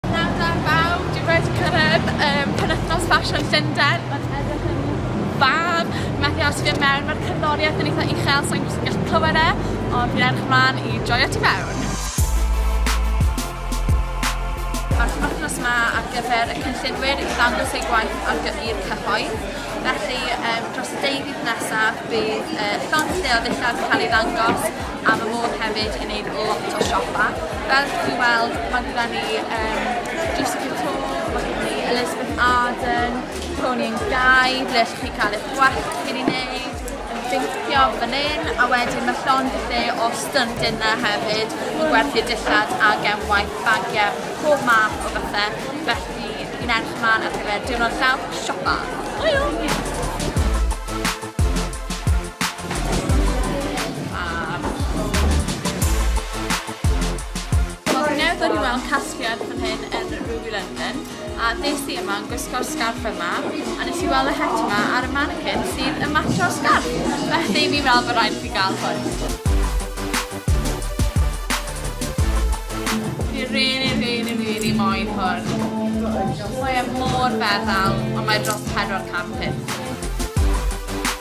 Pnawn da bawb, dwi wedi cyrraedd um, penwythnos ffasiwn Llundain, mae'n edrych yn fab, methu aros i fi mewn, mae'r cerddoriaeth yn eitha uchel, so i'n gwrs yn gallu clywed e, ond fi'n edrych ymlaen i joio ti mewn. Mae'r penwythnos yma ar gyfer y cynllunwyr i ddangos eu gwaith ar gyfer i'r cyhoedd, felly um, dros y deudydd nesaf bydd uh, llond lleol ddillad yn cael ei ddangos, a ma' Môn hefyd yn neud lot o siopa. Fel chi wedi weld ma' gyda ni um, Juicy Couture, ma' gyda ni Elizabeth Arden, Tony and Guy, ble allwch chi cael eich gwell chi'n ei wneud, yn bincio fan hyn, a wedyn mae llond y lle o stunt yna hefyd i gwerthu dillad a gemwaith bagiau, pob math o bethau, felly fi'n edrych ymlaen ar gyfer diwrnod llawn siopa. Hwyl! Oedden ni'n weld casgliad fan hyn yn Ruby London a des i yma yn gwisgo'r sgarff yma a nes i weld y het yma ar y mannequin sydd yn matcho sgarff. Felly fi'n meddwl bod rhaid i fi gael hwn. Fi really, really, really moyn hwn. Mae e mor feddal, ond mae dros 400 pump.